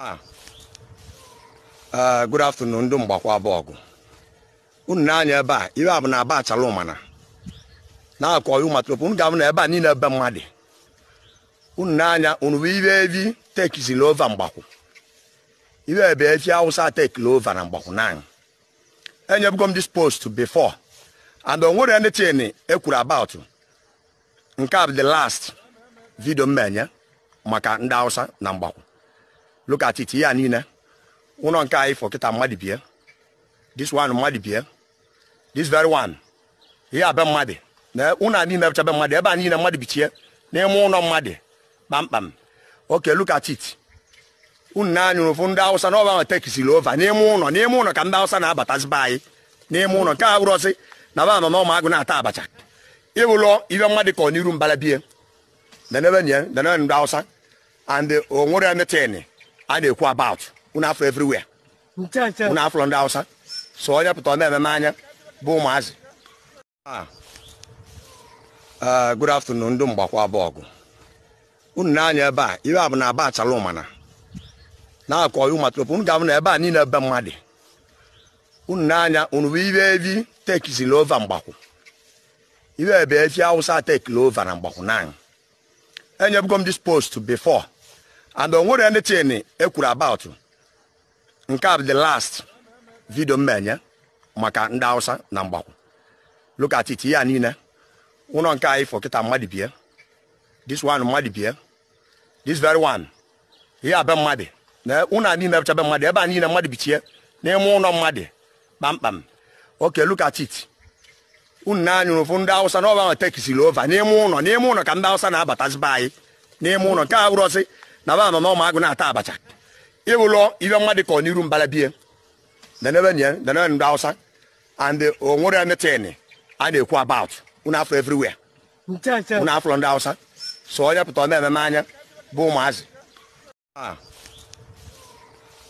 Ah. Ah, good afternoon ndị Mgbakwu Abọgụ unu na-anya ebe a ibe a bụ na aba Achala Ụmana na-akọ ụmatrop unu ga-afụ na ebe a niile be mmadụ unu na-anya unu fụ ibe evi takezili over Mgbakwu ibe ebe efi Awụsa takeli over na Mgbakwu na enyebugo m this post before and o nwere anything e kwuru about nke a bụ the last video m enye maka ndị Hausa na Mgbakwu look at it ihe a niile ụnọ nke a ị fụ kịta mmadụ bie this one mmadụ bie this very one ihe a be mmadụ na ụnọ a niile bụcha be mmadụ ebe a niile mmadụ bichie n'ime ụnọ mmadụ kpamkpam okay look at it unu na-anya unu fụ ndị Awụsa na ọ ba takesili over n'ime ụnọ n'ime ụnọ ka ndị Awụsa na-abatazi be anyị n'ime ụnọ nke a wụrọsị na ba mama ime agụ na-ata abacha ị hụlụ ibe mmadụ kọ n'iru mbala be ya nenebe anya nenebe ndị Awụsa and o nwere anything a na-ekwu about unu fụlụ everywhere unu fụlụ ndị Awụsa so onye pụta ọ na-ememe anyị bụ ụmụazị Ah, ah, good afternoon ndị Mgbakwu Abọgụ unu na-anya ebe a ibe a bụ na aba Achala Ụmana na-akọ ọyụ matrop unu ga-afụ na ebe a niile be mmadụ unu na-anya unu fụ ibe evi takezili over Mgbakwu ibe ebe efi Awụsa takeli over na Mgbakwu na enyebugo m this post before and o nwere anything e kwuru about nke a bụ the last video m na-enye maka ndị Hausa na Mgbakwu look at it ihe a niile ụnọ nke a ị fụ kịta mmadụ bie this one mmadụ bie this very one ihe a be mmadụ na ụnọ a niile bụcha be mmadụ ebe a niile mmadụ bichie n'ime ụnọ mmadụ kpamkpam okay look at it unu na-anya unu fụ ndị Awụsa na ọ ba takesili over n'ime ụnọ n'ime ụnọ ka ndị Awụsa na-abatazi be anyị n'ime ụnọ nke a wụrọsị na ba mama ime agụ na-ata abacha ị hụlụ ibe mmadụ kọ n'iru mbala be ya nenebe anya nenebe ndị Awụsa and o nwere anything a na-ekwu about unu fụlụ everywhere unu fụlụ ndị Awụsa so onye pụta ọ na-ememe anyị bụ ụmụazị Ah,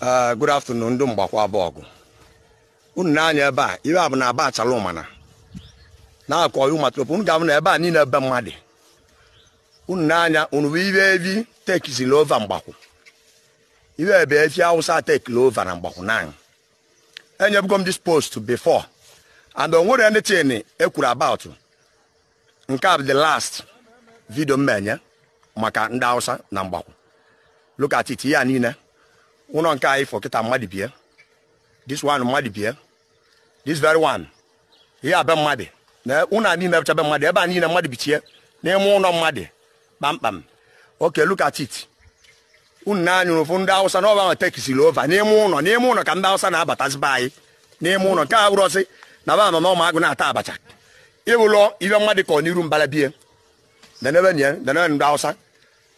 ah, good afternoon ndị Mgbakwu Abọgụ unu na-anya ebe a ibe a bụ na aba Achala Ụmana na-akọ ọyụ matrop unu ga-afụ na ebe a niile be mmadụ unu na-anya unu fụ ibe evi takezili over Mgbakwu ibe ebe efi Awụsa takeli over na Mgbakwu na enyebugo m this post before and o nwere anything e kwuru about nke a bụ the last video m enye maka ndị Hausa na Mgbakwu look at it ihe a niile ụnọ nke a ị fụ kịta mmadụ bie this one mmadụ bie this very one ihe a be mmadụ na ụnọ a niile bụcha be mmadụ ebe a niile mmadụ bichie n'ime ụnọ mmadụ kpamkpam okay look at it unu na-anya ụfụ ndị awụsa na ba takesiri over n'ime ụlọ n'ime ụlọ ka ndị awụsa na-abatazi be anyị n'ime ụlọ ka ọ wụrọsị na ba nọ n'ọma agụ na-ata abacha ịwụlọ ibe mmadụ ka ọ n'iru mbala bie denebe nye denebe ndị awụsa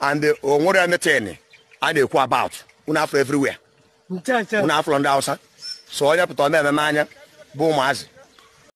and o nwere anything a na-ekwu about unu afụ everywhere ncha ncha unu afụ ndị awụsa so onye pụta ọ na-ememe anya bụ ụmụazị